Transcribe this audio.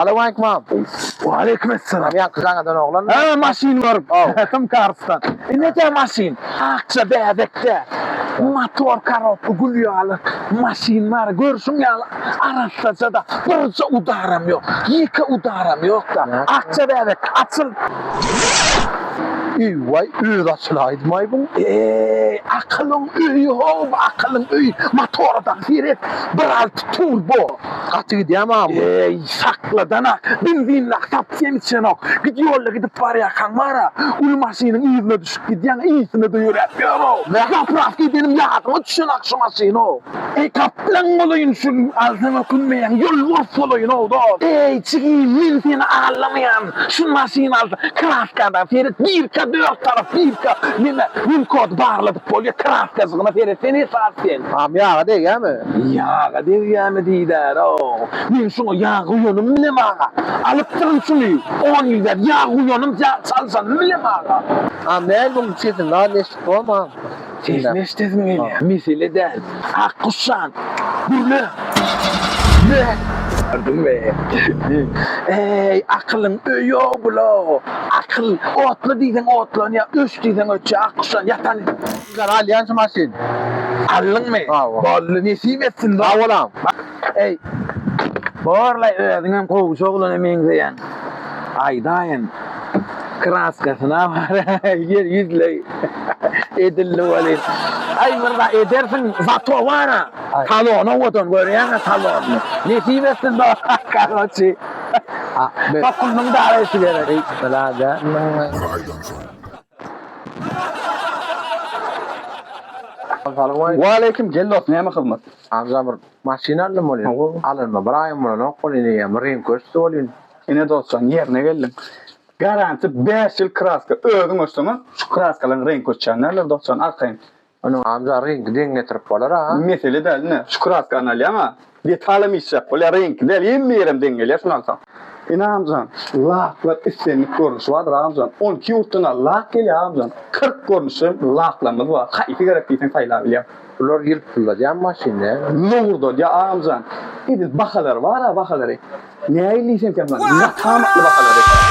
Salawmaleýkim agam. Waleýkim essalam. Ýaňky gaňadan oglan. Hä, maşyn görüp. Kim karsdan. Nädä maşyn? Akja bäbekde. Motor korobka gül ýaly maşyn bar. Görşüň ýaly arassaja-da. Birje udaram ýok. Ýeke udaram ýok-da. Akja bäbek, açyl. Eý-waý, özi açylaýdymaý bu. Eý, akylyň öýi-how, akylyň öýi. Motora-da seret. Bir alty turbo. Gaty gidýämi agam? Eý, şakladan-a, benzinlak tapyp-hem içenok. Git ýolda gidip barýarkaň bar-a, uly maşynyň yzyna düşüp gidýäň, yzsynada ýöräp ýör-ow. Zapravka edenim ýadyma düşenok şu maşyny-ow. Eý, gaplaň bolaýyn şu gün, alsaň ökünmeýäň, ýolbars bolaýyn-ow, dost. Eý, jigim, men seni aldamaýan. Şu maşyny alsa kraskadan seret birka dört tarap birka neme winkod barladyp bolýa kraskajygyna seret sen esasy sen. Agam ýaga degýämi. Ýaga degýämi diýdärow. Men şuňa ýag guýanym bilem aga. Alypdyryn şuny on ýyl bäri ýag guýanym çaljanym bilem aga. Agam näme muň sesiň az eşdip bolmam. Sesini eşidesim gelýär. Mesele däl. Ak guşjan. Gürle. Gördüňmi? Eý, akylyň öýi-o bula. Akyl, otla diýseň otlanýar, öç diýseň öçýär. Ak guşjan, ýatan. Ýaňy alýan şu maşyny. Aldyňmy? Hawa. Boldy, nesip etsin, dost. Sag bol, agam. Eý, borlaý özüňem gowşy oglana meňzeýäň. Aýdaýyn, kraskasyna baraý, ýer ýüzleý. Edildi welin. Aý, myrza, edersiň, zato bar-a, talon owadan, görýäň-ä talonyny. Nesip etsin do, karoçi. Tokulnyň daraýşy gerek. Eý, birader. Bir aýdan soň. Waleýkim, gel dos, näme hyzmat? Agza bir maşyn aldym welin, alanyma bir aýam bolanok welin, eýýäm reňki öçdi welin. Ine dostjan, ýerine geldiň. Garanti bäş ýyl kraska özüň öçseňem, şu kraskalaryň reňki öçýän däldir dostjan, arkaýyn. Onuň agza reňki deň getirip bolar-a. Mesele däl ine, şu kraskany alýaň-a, detalam işjek bolýar, reňki däl, hemme ýerem deň gelýär şuny alsaň. Ine agamjan, laklar islendik görnüşi bardyr agamjan, on iki ýurtdan-a lak gelýär agamjan, kyrk görnüşli laklarymyz bar, haýsy gerek diýseň saýlap bilýäň. Bular ýylpyldadýan maşynda. Lowurdadýa agamjan. Edil bahalary bar-a bahalary. Nähili diýsemkäm, ýataamatly bahalary.